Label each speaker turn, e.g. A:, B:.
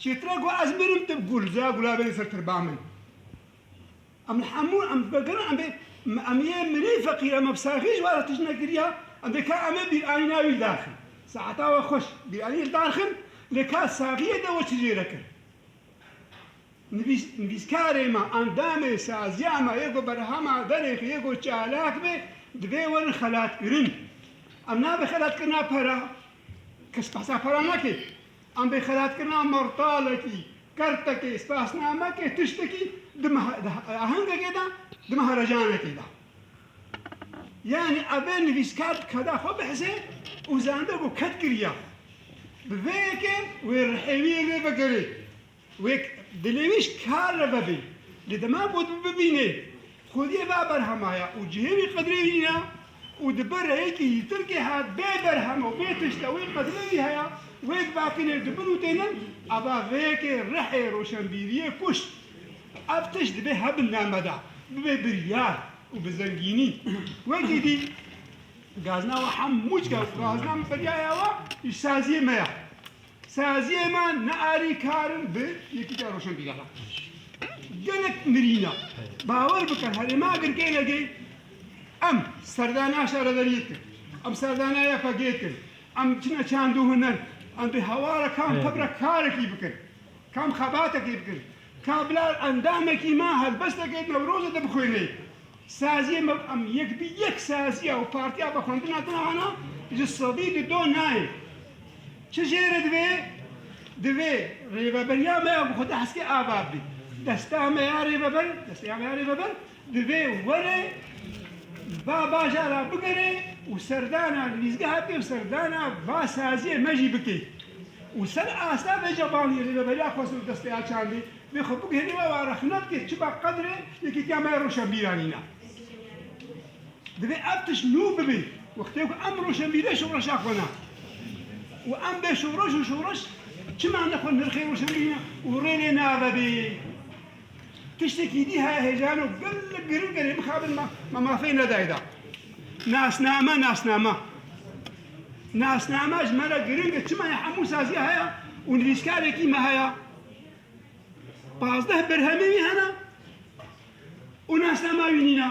A: Çêtir e ku ez mirim tu gul ze gula bêrî ser tirba min. Em li hemû em vekirin em bê em yê mirî feqîr em bi saxî ji were tişt nekiriya em bê ka em ê bîranî navî li dar xin. Saeta we xweş bîranî li dar xin lê ka saxiyê de we çi jê re kir. Nivîs nivîskarê me, endamê saziya me yê ku berhama derêxê yê ku çalak bê divê werin xelatkirin. Em nabê xelatkirina pera. Kes behsa xwe re nake. Em bê xelatkirina martalekî, kertekê, spasnamekê, tiştekî di meha di ahengekê de, di meha recanekê de. Yanî ev ê nivîskar bi keda xwe bihise û zande ku ket kiriya. Bi vê yekê wê rihêwiyê lê vekirê. Wek dilêwîş kar re vebê. Lê dema ku tu bibînê xwediyê va berhema ye û cihê wî qedrê wî nîne û di ber reyekî yîtirkê he bê berhem û bê tişta wê qedrê wî heye, wek vakînê di bin û tênin, ava vê yekê rihê roşenbîriyê kuşt. Ev tişt dibê he bi name de, bibê biryar û bi zengînî. Wekî dî gazna we hem mûçke û gazna min biryaya we îşsaziyê me ye. Saziyê me ne alîkar in bi Yekîtiya Roşenbîrana. Gelek mirîn e. Bawer bike herê ma girkêne kê em serdana şaredariyê dikin. Em serdana YPG'ê dikin. Em çine çandû huner. Em bi hewara kam xebra karekî bikin. Kam xebatekî bikin. Kablar endamekî me helbesteke Newrozê de bixwînê. Saziyê me û em yek bi yek saziya û partiya vexwendina din ana ji sedî di do nayê. Çi jê re divê? Divê rêveberiya me ya bi xwe de heskê ava bibî. Desta me ya rêveber, destê ya me ya rêveber, Divê were va baja ra bigere û serdana nivîsgeha pê û serdana va saziyê me jî bike û ser asta vê cebanî Rêveberiya Xwesir û Destê ya Çandê vê xwe biguherî û ew arexne bike çima qedr e Yekîtiya me ya Rewşenbîranî ne. Divê ev tişt nû bibe wextê ku em rewşenbîrê şoreşa xwe ne û em bê şoreş û şoreş çima ne xwe nirxê rewşenbîrî ne û rê lê navebê. Tiştekî dî heye hêjan û gelek girîng erê mixabin ma ma mafê nedayê da. Nasname nasnama. Nasnama ji me re girîng e çima ya hemû saziya heye û nivîskarekî me heye. Pazdeh berhemê wî hene û nasnama wî nîne.